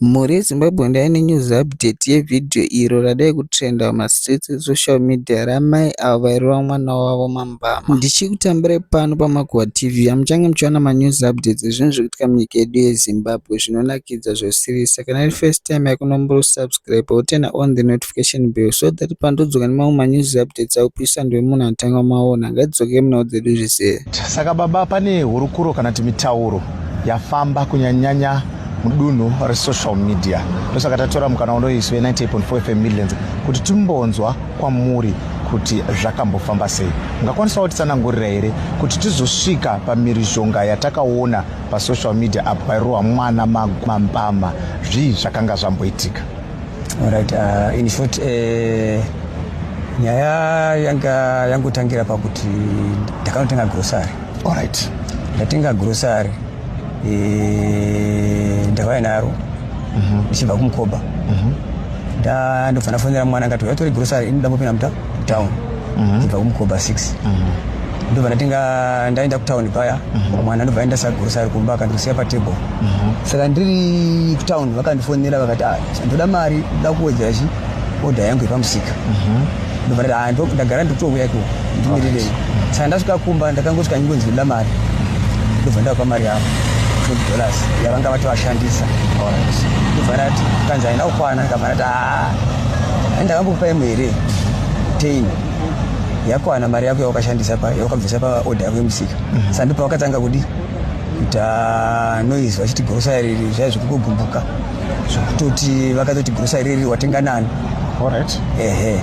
Mhuri yeZimbabwe ndava nenews update yevideo iro radai kutrenda mumastreets esocial media ramai avo vairova mwana wavo mambama. Ndichikutambirai pano paMakuhwa TV yamuchange muchiwana manews updates ezvinhu zvikuitika munyika yedu yeZimbabwe zvinonakidza zvoserious saka kana iri first time yako nomboro kusubscriber woturner on the notification bell so that pandodzoka nemamwe manews updates aupisa ndiwe munhu anotanga kumaona ngatidzokei munhau dzedu zvizere. Saka baba pane hurukuro kana kuti mitauro yafamba kunyanyanya mudunhu resocial media ndosaka tatora mukana unoiswe 98.4 fm midlands kuti timbonzwa kwamuri kuti zvakambofamba sei ungakwanisawo titsanangurira here kuti tizosvika pamirizhonga yatakaona pasocial media apo pairohwa mwana mambama zvii zvakanga zvamboitika right, uh, in short uh, nyaya yanga yangotangira pakuti ndakanotanga grosary allright ndatenga grosary eh, ndakauya naro mhm. ndichibva kumukoba mhm. ndandobva ndafonera mwana akati uya tore grocery inoda mopinda muta town mhm. ndichibva kumukoba 6 ndobva ndatinga ndaenda kutown paya mwana ndobva aenda sagrocery kumba akandisiya patable saka ndiri kutown vakandifonera vakati ah, ndoda mari ndoda kuwedzera chii order yangu yepamusika ndobvarira ah, ndo- ndagara ndotouya iko ndimirirei saka ndasvika kumba ndakangosvika nyingo ndinoda mari ndobva ndavapa mari yavo 20 dollars yavanga vati vashandisa ndobva ndati kanzi haina kukwana ndikabva ndati "Ah, hai ndakambokupa imwe here tein yakwana mari yako yawakashandisa pa- yawakabvisa paoda yako yemusika saka ndipo wakatanga kudi kuita noise vachiti grocery riri zvaiva zvekutogumbuka zvekutoti vakatoti grocery riri watenga nani Alright. ehe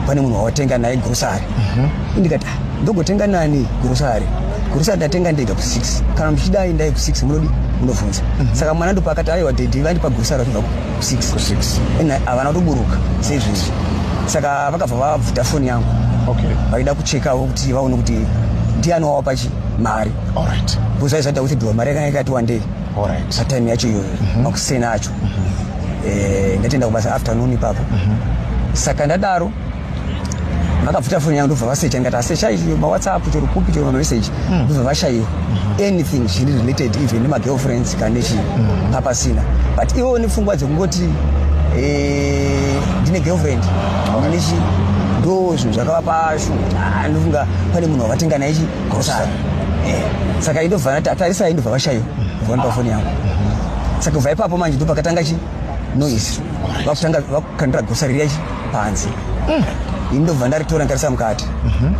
pane munhu wawatenga naye grocery Mhm. ndikati "Ah, ndogotenga nani grocery grocery ndatenga ndega ku6 kana muchida aendai ku6 munodi munobvunza saka mwana ndopakati aiwa dedi vandipa grocery vachibva ku6 Ku6. ena havana kutoburuka seizvezvi saka vakabva vabvuta foni yangu Okay. vaida kuchekawo kuti vaone kuti ndiani wawapa chii mari alright because aisada kuti dhiwa mari yakanga yakati wandei alright satime yacho iyoyo mhm. makuseni acho mhm. eh, ndatienda kubasa afternoon ipapo mhm. saka ndadaro vakabvuta foni yangu ndobva vasecha ndikati asecha izvi mawhatsapp chero kupi chero mameseji hmm. ndobva vashaiwa hmm. anything zviri related even nemagirlfriends kana nechii hmm. papasina but ivo nepfungwa dzekungoti eh, ndine girlfriend nechi ndo zvinhu zvakava pashu ah, ndofunga pane munhu wavatenga naye chi grocery eh, saka indobva tarisai ndobva vashayo vona pafoni yangu saka kubva ipapo manje ndo pakatanga chi noise vakutanga vakukandira grocery riya chi panze mm. ini ndobva ndaritora ndarisa mukati mhm.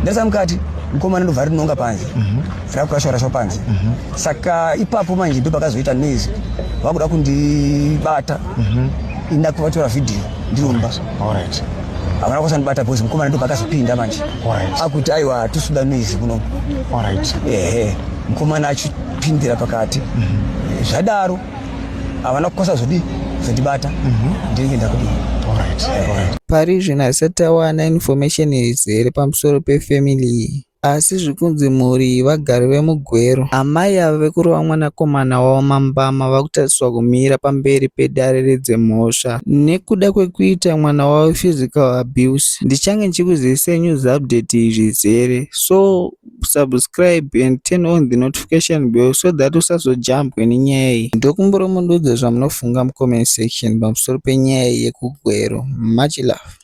ndarisa mukati mukomana ndobva rinonga panze mhm. rakurashwarashwa panze mhm. saka ipapo manje ndo pakazoita noise vakuda kundibata ini ndakuvatora vhidhiyo ndiri mubasa alright havana kusandibata bhozi mukomana ndo pakazopinda manje akuti aiwa hatusuda noizi kuno ehe mukomana achipindira pakati mhm. zvadaro havana kukosa zvodi zvondibata mhm. ndinenge ndakudii pari zvino haisati awana information izere pamusoro pefamily iyi Asi zvikunzi mhuri iyi vagari vemuGweru, amai ava vekurova mwanakomana wavo mambama vakutarisirwa kumira pamberi pedare redzemhosva nekuda kwekuita mwana wavo physical abuse. Ndichange ndichikuzivisai news update iyi zvizere so subscribe and turn on the notification bell so that usazojambwe nenyaya iyi. Ndokumbirawo mundiudze zvamunofunga mucomment section pamusoro penyaya iyi yekuGweru. Much love.